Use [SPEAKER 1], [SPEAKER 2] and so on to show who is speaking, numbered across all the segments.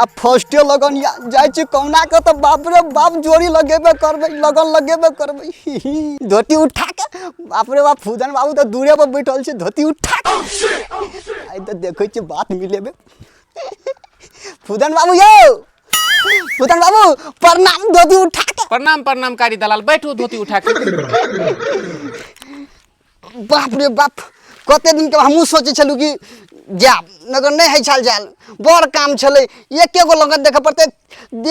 [SPEAKER 1] आ फर्स्टे लगन या जाइ छी कहुना के तऽ बाप रे बाप जोड़ी लगेबे करबै लगन लगेबे करबै ही ही। धोती उठा के बाप रे बाप फूदन बाबू तऽ दूरे पर बैठल छै धोती उठा के आइ तऽ देखै छी बात मिलेबे फूदन बाबू यौ फूदन बाबू प्रणाम धोती उठा के प्रणाम प्रणाम कारी दलाल बैठू धोती उठा के बाप रे बाप कते दिन के हमहूँ सोचै छलहुँ कि जायब मगर नहि होइ छल जायल बड़ काम छलै एके गो लगन देखऽ पड़तै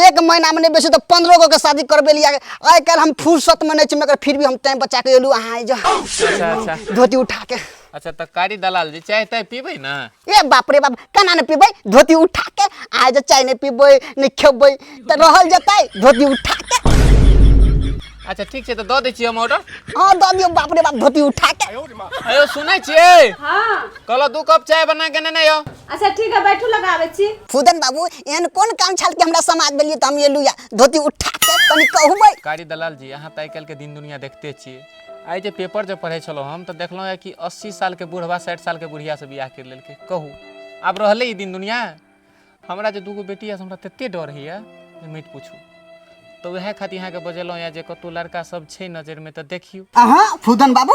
[SPEAKER 1] एक महीनामे नहि बेसी तऽ पन्द्रह गो के शादी करबे लिया आइ काल्हि हम फुर्सतमे नहि छी मगर फिर भी हम टाइम बचा के एलहुँ अहाँ जा अच्छा अच्छा धोती उठा के अच्छा तऽ कारी दलाल जी चाय ताय पीबै ने ए बाप रे बाप केना नहि पीबै धोती उठा के आइ जे चाय नहि पीबै नहि खेबै तऽ रहल जेतै धोती उठा के अच्छा ठीक छै तऽ दऽ दै छियै हम ऑर्डर हाँ दऽ दियौ बाप रे बाप धोती उठा के अयो सुनै छियै हाँ कहलो दू कप चाय बना के नेने आउ अच्छा ठीक है बैठू लगाबे छी फुदन बाबू एहन कोन काम छल कि हमरा समाज देलियै तऽ हम एलू या धोती उठा के तनी कहबै कारी दलाल जी अहाँ तऽ आइ काल्हिके दिन दुनिया देखते छियै आइ जे पेपर जे पढ़ै छलहुँ हम तऽ देखलहुँ कि अस्सी सालके बूढ़वा साठि सालके बुढ़ियासँ बियाह करि लेलकै कहू आब रहलै ई दिन दुनिया हमरा जे दूगो बेटी यऽ से हमरा तते डर होइए जे मत पूछू तऽ उएह खातिर अहाँके बजेलहुँ यऽ जे कतहु लड़का सब छै नजरिमे तऽ देखियौ अहाँ फूदन बाबू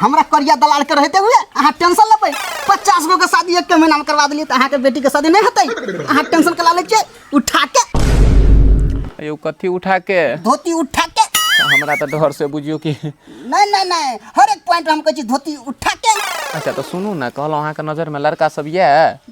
[SPEAKER 1] हमरा करिया दलाल के रहते हुए अहाँ टेंशन लेबै पचास गो के शादी एक महीना में करवा देलियै तऽ अहाँके बेटी के शादी नहि हेतै अहाँ टेंशन कला लै छियै उठा के यौ कथी उठा के धोती उठा के हमरा तऽ डर से बुझियौ कि नहीं नहीं नहीं हर एक पॉइंट हम कहै छी धोती उठा के अच्छा तऽ सुनू ने कहलहुँ अहाँके नजरिमे लड़का सब यऽ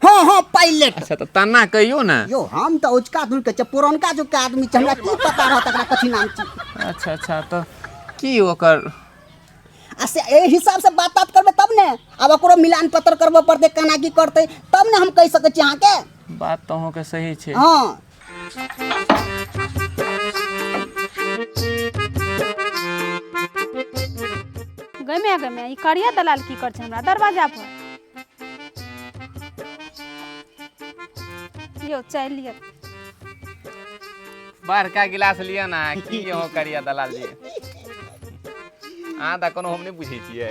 [SPEAKER 1] हँ हँ पायलट अच्छा तऽ तना कहियो ने यौ हम तऽ उचका धुल के छै पुरनका जुग के आदमी छै हमरा की पता रहत एकरा कथी नाम छी अच्छा अच्छा तऽ की ओकर आ से एहि हिसाब से बात तात करबै तब ने आब ओकरो मिलान पत्र करबऽ पड़तै केना की करतै तब ने हम कहि सकै छी अहाँके बात तऽ अहूँके सही छै हँ गमे गमे ई करिया दलाल की कर छै हमरा दरवाजा पर लियो चाय लियो बड़का गिलास लिअ ना की यहाँ करिया दलाल जी अहाँ तऽ कोनो हम नहि बुझै छियै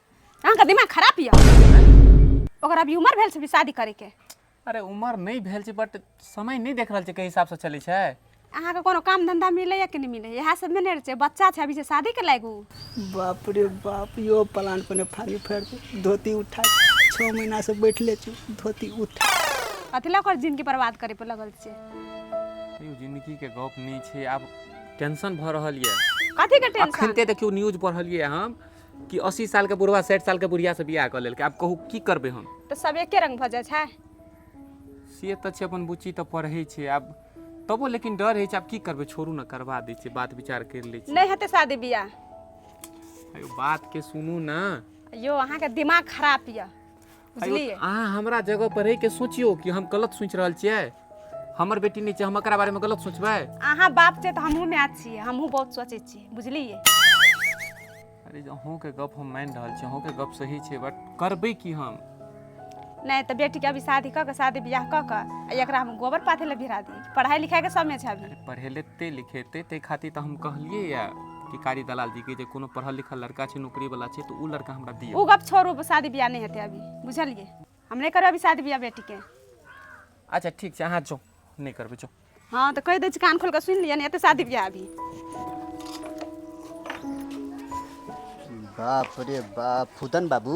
[SPEAKER 1] अहाँके दिमाग खराब यऽ ओकर अभी उम्र भेल छै कि शादी करैके अरे उम्र नहि भेल छै बट समय नहि देख रहल छै कई हिसाबसँ चलै छै अहाँके कोनो काम धंधा मिलैया कि नहि मिलैया इएह सब नहि ने रहै छै बच्चा छै अभी से शादी के लागू बाप रे बाप यो प्लान पर फाड़ी फाड़ दे धोती उठा छः महीना से बैठले छी धोती उठा अथी लऽ ओकर जिनगी बर्बाद करे पर लगल छै यौ जिंदगीके गप नहि छै आब टेंशन भऽ रहल यऽ कथी के टेंशन अखनते देखियौ न्यूज पढ़लियै हम कि अस्सी साल के बुढ़वा साठि साल के बुढ़िया से बियाह कऽ लेलकै आब कहू की करबै हम तऽ सब एके रंग भऽ जाइ छै से तऽ छै अपन बुच्ची तऽ पढ़ै छै आब तबो लेकिन डर होइ छै आब की करबै छोड़ू ने करबा दै छियै बात विचार करि लै छियै नहि हेतै शादी बियाह अयो बात के सुनू ने अयो अहाँके दिमाग खराब यऽ बुझलियै अहाँ हमरा जगह पर रहि के सोचियो कि हम गलत सोच रहल छियै हमर बेटी नहीं छै हम एकरा बारे में गलत सोचबै अहाँ बाप छै तऽ हमहूँ माय छियै हमहूँ बहुत सोचै छियै बुझलियै अरे अहूँ के गप हम मान रहल छी अहूँ के गप सही छै बट करबै की हम नहि तऽ बेटीके अभी शादी कऽ कऽ शादी बियाह कऽ कऽ आ एकरा हम गोबर पाथे लए भिरा दी पढ़ाइ लिखाइके समय छै अभी पढ़ेलेते लिखेते ते खातिर तऽ हम कहलियै या कि कारी दलाल जी के जे कोनो पढ़ल लिखल लड़का छै नौकरी वाला छै तो उ लड़का हमरा दियो उ गप छोड़ू शादी बियाह नहीं हेतै अभी बुझलिए हम नहीं करब अभी शादी बियाह बेटी के अच्छा ठीक छै अहाँ जो नहीं करबै जो हाँ तो कह दै छी कान खोल के सुन लिया नहीं हेतै शादी बियाह अभी बाप रे बाप फुदन बाबू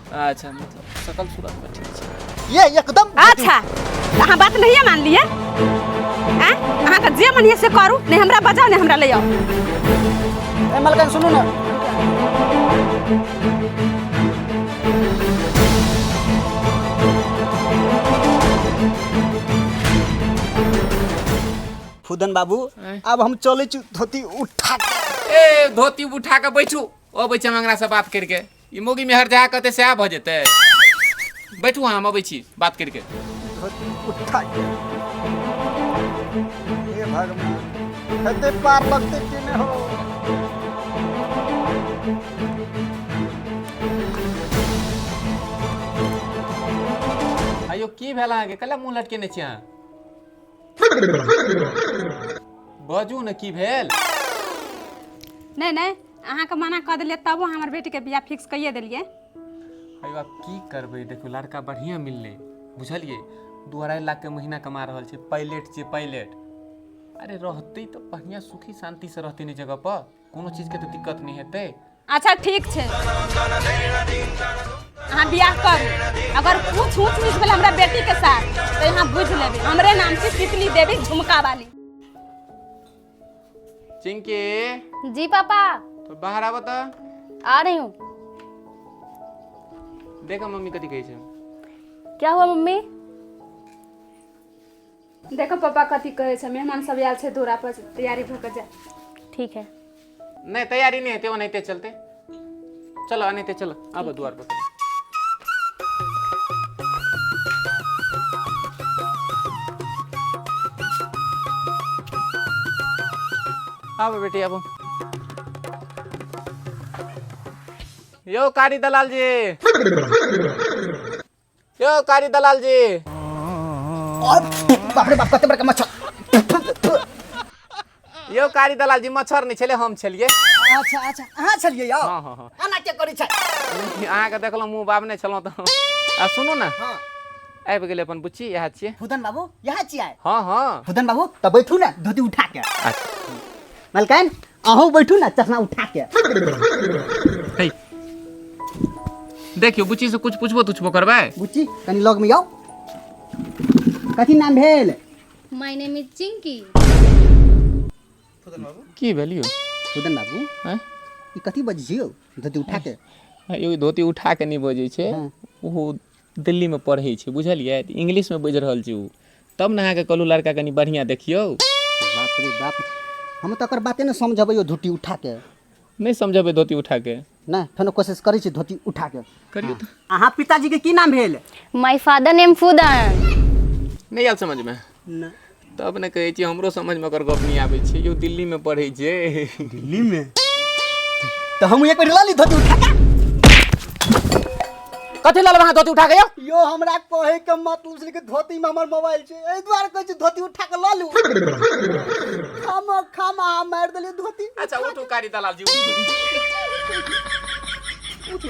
[SPEAKER 1] अच्छा मतलब सकल सूरत पर ठीक छै ये एकदम अच्छा अहाँ बात नहीं मान लिए आँ? अहाँ के जे मन ये से करू नहीं हमरा बजाओ नहीं हमरा ले आओ ए मलकन सुनू ना फुदन बाबू अब हम चले छु धोती उठा के। ए धोती उठा के बैठू ओ बैठे मंगरा से बात करके ई मोगी में हरजा कहते सएह भऽ जेतै बैठू अहाँ हम अबै छी बात करिके धोती उठा के हे भगवान कते पार लगते कि नहीं हो आइयो की भेल अहाँके कल मुँह लटकेने छी अहाँ बाजू ने की भेल नहि नहि अहाँके मना कऽ देलियै तबो हमर बेटीके बियाह फिक्स कइए देलियै अरे बाप की करबै देखियौ लड़का बढ़िया मिललै बुझलियै दू अढ़ाई लाख के महीना कमा रहल छै पायलट छै पायलट अरे रहतै तऽ बढ़िया सुखी शांति से रहतै ने जगह पर कोनो चीजके तऽ दिक्कत नहि हेतै अच्छा ठीक छै अहाँ बियाह करू अगर कुछ ऊँच नीच भेल हमरा बेटी के साथ तो यहाँ बुझ लेबे हमरे नाम से तितली देवी झुमका वाली चिंकी जी पापा तो बाहर आबऽ तऽ आ रही हूँ देखऽ मम्मी कथी कहै छै क्या हुआ मम्मी देखऽ पापा कथी कहै छै मेहमान सब आयल छै दूरा पर तैयारी भऽ कऽ जा ठीक है नहि तैयारी नहि हेतै ओनाहिते चलतै चलऽ ओनाहिते चलऽ आबऽ दुआर पर आबऽ बेटी आबऽ यौ कारी दलाल जी यो कारी दलाल जी बाप रे बाप कते बड़का मच्छर यो कारी दलाल जी मच्छर नहीं छले हम छलिए अच्छा अच्छा अहाँ छलिए यौ हाँ हाँ हाँ एना के करै छै अहाँ के देखलहुँ मुँह बाब नहीं छलहुँ तो आ सुनू ना हाँ आबि गेलै अपन बुच्ची इएह छियै फुदन बाबू यहाँ छियै हाँ हाँ फुदन बाबू तऽ बैठू ने धोती उठा के अच्छा मलकान अहूँ बैठू ने चश्मा उठा के है देखियो बुच्ची से कुछ पूछबो तुछबो करबै बुच्ची कनी लग में आओ कथी नाम भेल माय नेम इज चिंकी की भेलियो सुदन बाबू हैं? ई कथी बजियो धोती उठा के एगो धोती उठा के नहीं बजै छै हाँ। ओहो दिल्ली मे पढ़ै छै बुझलियै तऽ इंग्लिश मे बाजि रहल छै ओ तब ने अहाँके कहलहुँ लड़का कनि बढ़िआँ देखियौ बाप रे बाप हम तऽ एकर बाते ने समझबै यौ धोती उठा के नहि समझबै धोती उठा के नहि फेनो कोशिश करै छी धोती उठा के करियौ तऽ अहाँ पिताजी के की नाम भेल माय फादर नेम फूदन नहि आयल समझमे नहि तब ने कहै छियै हमरो समझमे ओकर गप नहि आबै छै यौ दिल्लीमे पढ़ै छै दिल्लीमे तऽ हम एक बेर लऽ ली धोती उठा कऽ कथी लऽ लेबै अहाँ धोती उठा कऽ यौ यो हमरा कहे के मतलब छलै कि धोती में हमर मोबाइल छै एहि दुआरे कहै छी धोती उठा के लऽ लू हम खामा अहाँ मारि देलियै धोती अच्छा उठू कारी दलाल जी उठू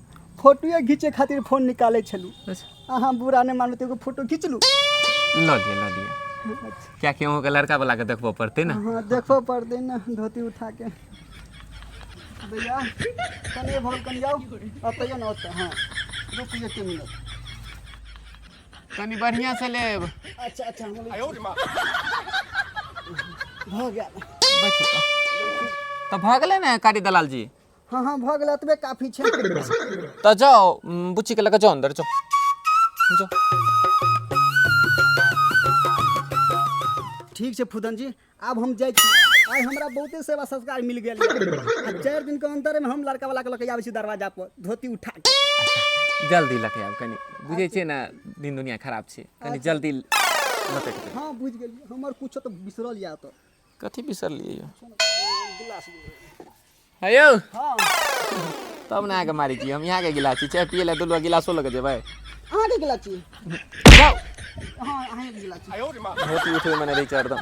[SPEAKER 1] फोटोए घीचे खातिर फोन निकाले छलू अच्छा अहाँ बुरा नहीं मानू तो एगो फोटो खींच लू लऽ लिअ लऽ लिअ किएकि अहूँके लड़का बला के देखबऽ पड़तै ने हाँ देखो पड़ते ना धोती उठा के भैया कने भर कने आओ अतैयो ना ओतऽ हाँ रुक एक मिनट कनी बढ़िया से लेब अच्छा अच्छा हम हो गया बैठू तऽ। तऽ भऽ गेलै ने कारी दलाल जी हाँ हाँ भऽ गेल एतबे काफी छै तऽ जाओ उम, बुच्ची के लऽ कऽ जाओ अंदर जाओ जाओ ठीक छै फुदन जी आब हम जाइ छी आइ हमरा बहुते सेवा संस्कार मिल गेल आ चारि दिन के अंतर में हम लड़का वाला के लऽ के आबै छी दरवाजा पर धोती उठा के जल्दी लऽ के आब कनि बुझै छियै ने दिन दुनिया खराब छै कनि जल्दी लऽ के आउ। हाँ बुझ गेलिए हमर कुछो तो बिसरल या तो कथी बिसरलियै यौ गिलास है यौ हँ तब ने अहाँके मारै छी हम यहाँके गिलास छी चाय पिए लए दुलुआ गिलासो लऽ कऽ जेबै अहाँके गिला छी जाउ हँ अहाँके गिला छी धोती उठबै मने रहै छै हरदम